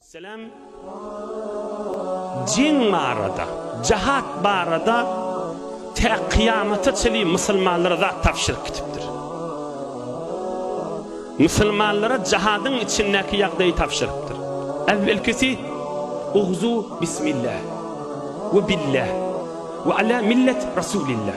Selam Jing barada Jahat barada tä kyýamata çenli musulmanlara zat tabşyryk gitipdir. Musulmanlara jahadyň içindäki ýagdaýy tabşyrypdyr. Äwwelkisi Ugzu bismillah we billah we ala millet rasulillah.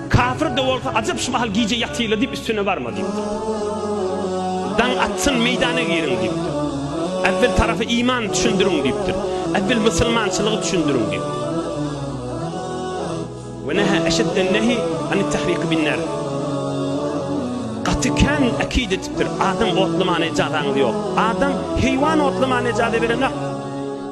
Kapyr-da bolsa ajap şu mahal gije ýatyla diýip üstüne barma diýipdir. Daň atsyn meýdana giriň diýipdir. Äwwel tarapy iman düşündiriň diýipdir. Äwwel musulmançylygy düşündiriň diýip. Ve neha eşedden nehi anit tahriqi bin nar. Gaty kän ekid etipdir. Adam otlamana ejazaňyz ýok. Adam heýwan otlamana ejaza berenok.